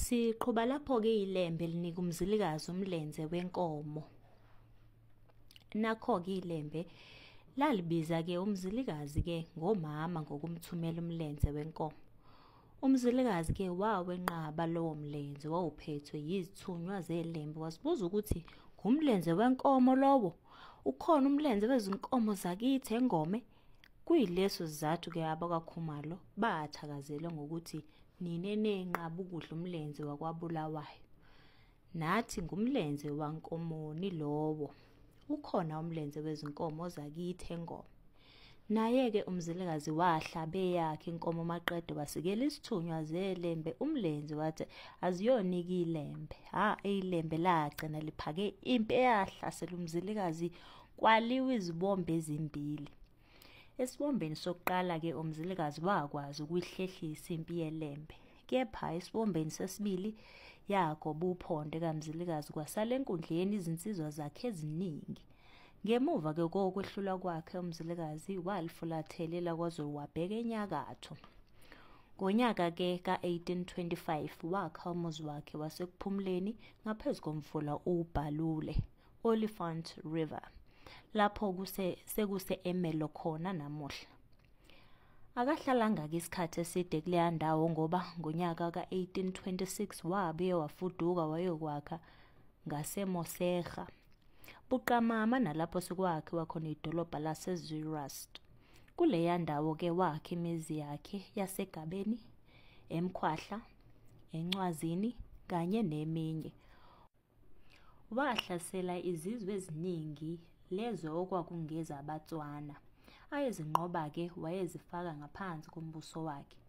Siqhuba lapho-ke ilembe linika umzilikazi umlenze wenkomo. Nakho-ke ilembe lalibiza-ke umzilikazi-ke ngomama ngokumthumela umlenze wenkomo. Umzilikazi-ke wawenqaba lowo mlenze wawuphethwe yizithunywa zelembe wasibuza ukuthi ngumlenze wenkomo lowo ukhona umlenze wezinkomo zakithi engome Kuyileso sizathu ke abakwaKhumalo bathakazele ngokuthi nine nenqaba ukudla umlenze wakwaBulawayo. Nathi ngumlenze wankomoni lowo. Ukhona umlenze wezinkomo zakithi engoma. Naye-ke umzilikazi wahlabe yakhe inkomo maqede wasikela isithunywa zelembe umlenze wathi aziyonike ilembe ha ilembe lagcina liphake impi eyahlasela umzilikazi Kwaliwa izibombe ezimbili. Esibombeni sokuqala-ke uMzilikazi wakwazi ukuyihlehlisa impi yelembe. Kepha esibombeni sesibili yagoba uphondo kaMzilikazi kwasala enkundleni izinsizwa zakhe eziningi. Ngemuva ke kokwehlulwa kwakhe uMzilikazi walifulathelela kwaZolwabheka enyakatho. Ngonyaka ke ka-1825 wakha umuzi wakhe wasekuphumuleni ngaphezu komfula uBhalule. Olifant River lapho kuse sekuse Emelo khona namuhla. Akahlalanga-ke isikhathi eside kuleya ndawo ngoba ngonyaka ka-1826 wabuye wafuduka wayokwakha ngaseMoserha, buqamama nalapho sekwakhiwa khona idolobha laseZurast. Kuleya ndawo-ke wakha imizi yakhe yaseGabeni, eMkhwahla, eNcwazini kanye neminye. Wahlasela izizwe eziningi lezo okwakungeza abaTswana. Ayezinqoba-ke wayezifaka ngaphansi kombuso wakhe.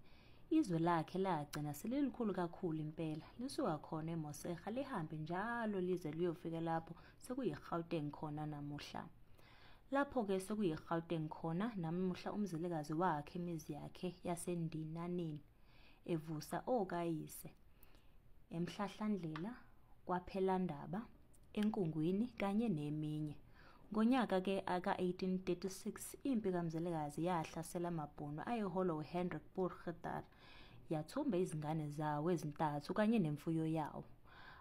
Izwe lakhe lagcina selilikhulu kakhulu impela, lisuka khona eMoserha lihambe njalo lize liyofika lapho sekuyiGauteng khona namuhla. Lapho-ke sekuyiGauteng khona namuhla umzilikazi wakhe imizi yakhe yaseNdinaneni, evusa okayise. eMhlahlandlela, kwaPhelandaba, eNkungwini kanye neminye. Ngonyaka ke ka-1836 impi kaMzilikazi yahlasela amaBhunu ayeholwa uHendrik Purgieter yathumba izingane zawo ezintathu kanye nemfuyo yawo.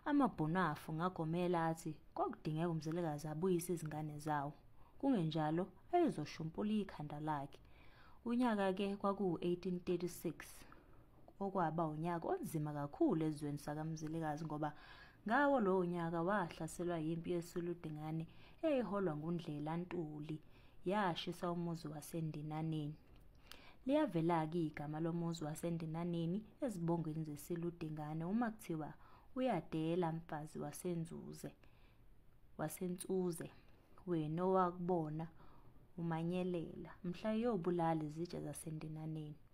AmaBhunu afu ngagomela athi kwakudingeka uMzilikazi abuyise izingane zawo, kungenjalo ayezoshumpula ikhanda lakhe. Unyaka ke kwakuwu-1836. okwaba unyaka onzima kakhulu ezweni sakamzilikazi ngoba ngawo lowo nyaka wahlaselwa yimpi yesuludingane eyiholwa ngundlela ntuli yashisa umuzi wasendinaneni liyavela-ke igama lomuzi wasendinaneni ezibongweni zesiludingane uma kuthiwa uyadela mfazi wasenzuze wasensuze wena owakubona umanyelela mhla yobulala izitshe zasendinaneni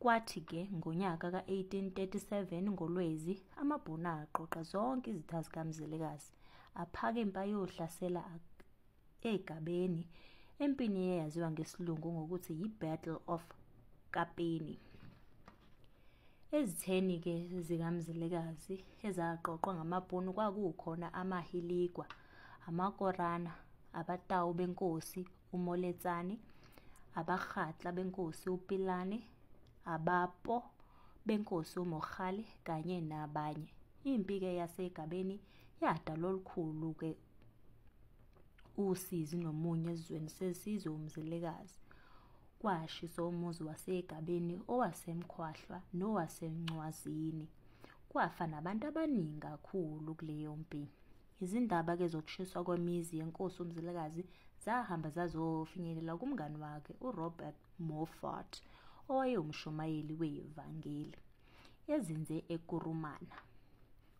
Kwathi ke ngonyaka ka-1837 ngoLwezi amaBhunu aqoqa zonke izitha zikaMzilikazi aphaka impi ayohlasela eGabeni empini eyaziwa ngesilungu ngokuthi yi-Battle of Kapeni. Ezitheni ke zikaMzilikazi ezaqoqwa ngamaBhunu kwakukhona amaHiligwa, amaKorana, abaTawu benkosi umoletsane abarhatla benkosi upilane abapo benkosi umorhale kanye nabanye impi ke yasegabeni yadala olukhulu ke usizi nomunye ezweni sesizwe umzilikazi kwashiso umuzi wasegabeni owasemkhwahlwa nowasencwazini kwafa nabantu abaningi kakhulu kuleyo mpi Izindaba ke zokushiswa kwemizi yenkosi uMzilikazi zahamba zazofinyelela kumngani wakhe uRobert Moffat owayewumshumayeli wevangeli ezinze eKurumana.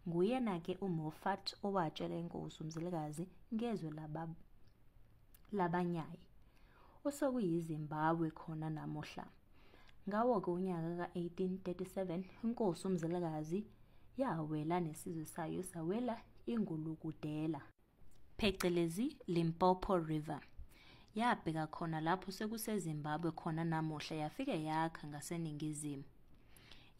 Nguyena ke uMoffat owatshela inkosi uMzilikazi ngezwe laba labanyayi osokuyiZimbabwe khona namuhla. Ngawo-ke unyaka ka-1837 inkosi uMzilikazi yawela nesizwe sayo sawela ingulukudela, phecelezi Limpopo River. Yabheka khona lapho sekuseZimbabwe khona namuhla yafike yakha ngaseningizimu.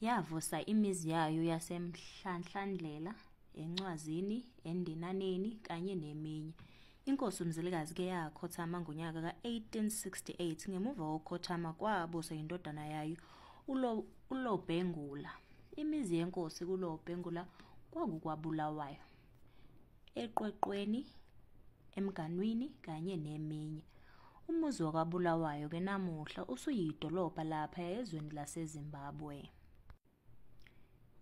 Yavusa imizi yayo yaseMhlanhlandlela, eNcwazini, eNdinaneni kanye neminye. Inkosi uMzilikazi ke yakhothama ngonyaka ka-1868 ngemuva kokukhothama kwabuswa yindodana yayo uLo- uLobhengula. Imizi yenkosi kuLobhengula kwakukwabulawayo, eqweqweni, emganwini kanye neminye. Umuzi wakwaBulawayo ke namuhla usuyidolobha lapha ezweni laseZimbabwe.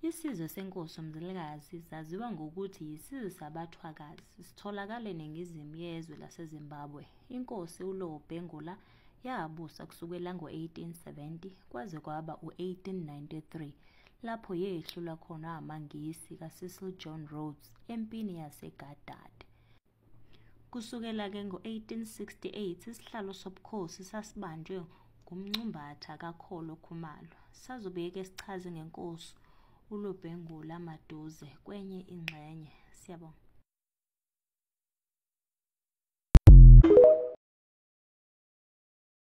Isizwe senkosi uMzilikazi saziwa ngokuthi yisizwe sabaThwakazi. Sitholakala eningizimu yezwe laseZimbabwe. Inkosi uLowo Bhengula yabusa kusukela ngo-1870 kwaze kwaba u-1893 lapho yehlulwa khona amaNgisi kaCecil John Rhodes empini yaseGadad. Kusukela ke ngo-1868 isihlalo sobukhosi sasibanjwe ngumncumbatha kaKholo Khumalo. Sazobuye ke sichaze ngenkosi uLobhengula Maduze kwenye ingxenye. Siyabonga.